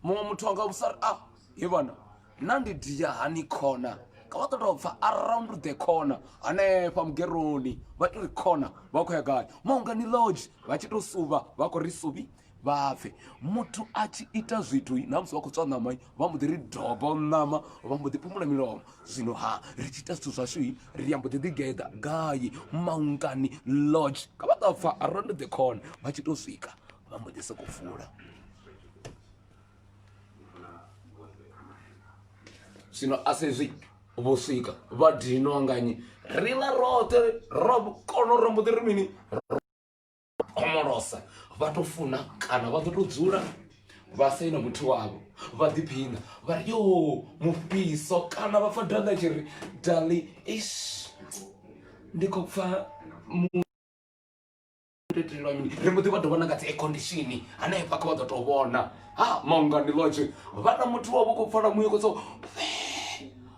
muṅwe muthu anga vhusa ri a ah, ye vhana na ndi dia hani khona ka vha ṱoḓa u bva around the corner hanefha mugeroni vha to ri corner vha khou ya gai maungani lodge vha tshi to suvha vha khou ri suvhi vha pfe muthu a tshi ita zwithu na musi vha khou tswa ṋama vha mbo ḓi ri dobo ṋama vha mbo ḓi phumula milomo zwino ha ri tshi ita zwithu zwashu ri ambo ḓi ḓigeḓa gai maungani lodge ka vha ṱa pfa around the corner vha tshi to swika vha mbo ḓi sokou fula zwino a sezwi vho swika vha dinwa nganyi ri ḽa roṱhe ro kono ro mbo ḓi ri mini khomolosa vha to funa kana vha ḓo to dzula vha saina muthu wavho vha ḓiphina vha ri yo mufhiso kana vha pfa danga tshi ri dali ish ndi khou pfa itelwa mini ri mbo ḓi vha ḓo vhona nga dzi aircondition hanefha kha vha ḓo tou vhona ha maungani lotshe vhana muthu wavho khou pfala muye kotso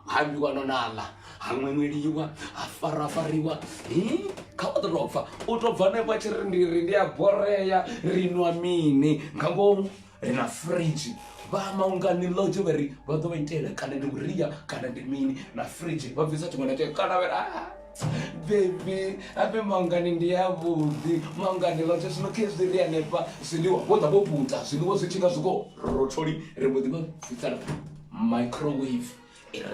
ha ambiwa no naḽa ha ṅweṅweliwa ha farafariwa kha vha ḓo tou pfa u tou bva hanefha tshi ri ndi ri ndi a borea ri nwa mini nga ngomu ri na fridge vha amba unga ni lodge vha ri vha ḓo vha itela kana ndi vhuria kana ndi mini na fridge vha bvisa tshiṅwe na tshiṅwe kana vha ri ah bebi ape maungani ndi yavhuḓi maungani lodge zwino khe zwi ri hanefha zwiḽiwa vho ḓa vho puta zwiḽiwa zwi tshinga zwi khou rotholi ri mbo ḓi vha bvisela microwave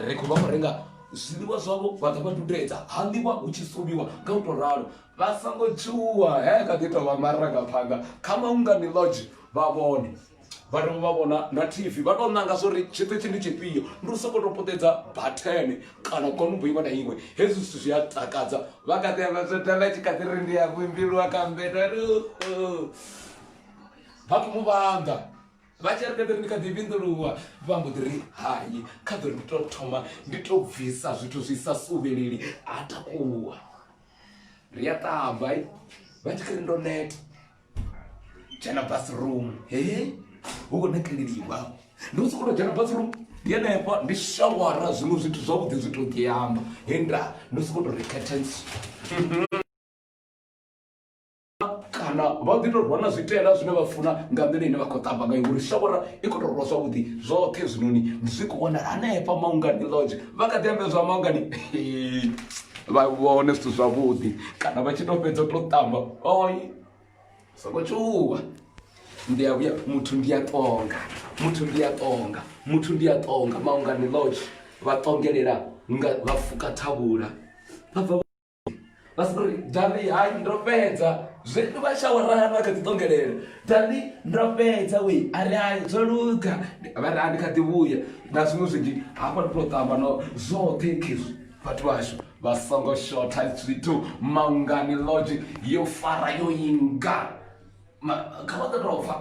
ri khou vha khou renga zwiḽiwa zwavho vha ḓa vha dudedza ha ḽiwa hu tshi suliwa nga u tou ralo Vha songo tshuwa, he kha ḓi tou vha marangaphanḓa kha Maungani Lodge vha vhone vha dovha vha vhona na TV vha tou nanga zwori tshiṱitshi ndi tshifhio ndi u sokou tou puṱedza bathene kana konubo iṅwe na iṅwe hezwi zwithu zwi a takadza vha kha ḓi amba zwo tamba tshi kha ḓi ri ndi ya vhimbilwa kha mbedo ri vha khou mu vhanḓa vha tshi ri kha ḓi ri ndi kha ḓi vhinḓuluwa vha mbo ḓi ri hai kha ḓo ndi tou thoma ndi tou bvisa zwithu zwi sa suvheleli a takuwa ri a ṱamba eh? vha tshi kari ndo neta dzhena bathroom he hu khou nekeleliwa ndo sokou to dzhena bathroom ndi henefha ndi shawara zwiṅwe zwithu zwavhuḓi zwi to ḓiamba he nda ndo sokou to ri curtains kana vha ḓi tou rwa na zwitela zwine vha funa nga nḓila ine vha khou ṱamba ngayo ngori shavhora i khou tou rwa zwavhuḓi zwoṱhe zwinoni zwi khou wanala hanefha maungani lodge vha kha ḓi ambedzwa maungani vha vhone zwithu zwavhuḓi kana vha tshi tou fhedza tou ṱamba oi songo tshuwa ndi a vhuya muthu ndi a ṱonga muthu ndi a ṱonga muthu ndi a ṱonga maungani lodge vha ṱongelela nga vha fuka thavhula vha bva vha si ri dali hai ndo fhedza zwe vha shawara hani vha kha ḓi ṱongelela dali ndo fhedza we a ri hai zwo luga vha ri hani kha ḓi vhuya na zwiṅwe zwinzhi hafha ndi to ṱamba no zwoṱhe khezwi vhathu vhashu vha songo shotha zwithu maungani lodge yo fara yo inga Ma- kha vha ḓo tou pfa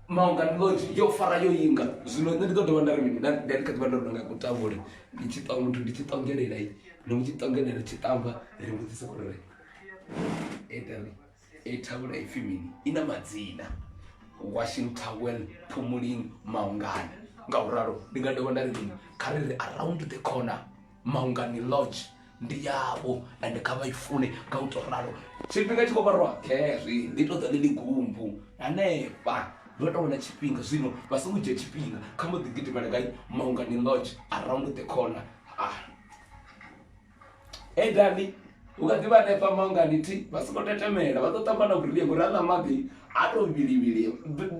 maungani lodge yo fara yo inga zwino nṋe ndi ḓo dovha nda ri mini nda nda ndi kha ḓivha ndo no nga kutambule ndi tshi ṱwa muthu ndi tshi ṱongelela i ndi mu tshi ṱongelela tshi tamba ri vhudzisa uri ri ita ri i thavhula ipfhi mini i na madzina washing towel phumulini maungana nga u ralo ndi nga dovha nda ri mini kha ri ri around the corner maungani lodge ndi yavho and kha vha i fune nga u to ralo tshifhinga tshi khou vha roṱhe zwi ndi to ḓa ḽili gumbu hanefha vha to wana tshifhinga zwino vha songo dzhia tshifhinga kha mbo ḓi gidimela gai maungani lodge around the corner ah. hey dali u kha ḓi vha hanefha maungani thi vha songo tetemela vha ḓo tamba na vhuria ngori a ḽa maḓi a to vhilivhili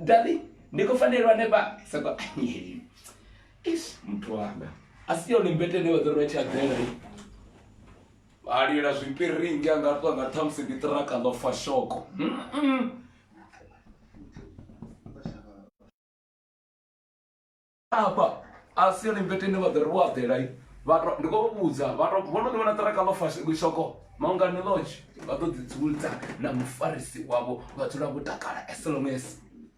dali ndi khou fanelwa hanefha soko ish muthu wanga a si yone mbete ine vha ḓo ri vha tshi aḓela i a lila zwipiringi a nga ṱwa nga ṱhamusi ndi ṱiraka ḽo fa shoko afha a si yone mbete ine vha ḓo ri vho aḓela i vha to- ndi khou vha vhudza vha to- vho no ḓi vhona ṱiraka ḽo fa sh- shoko maungani lodge vha ḓo ḓidzuludza na mufarisi wavho vha dzula vho takala as long as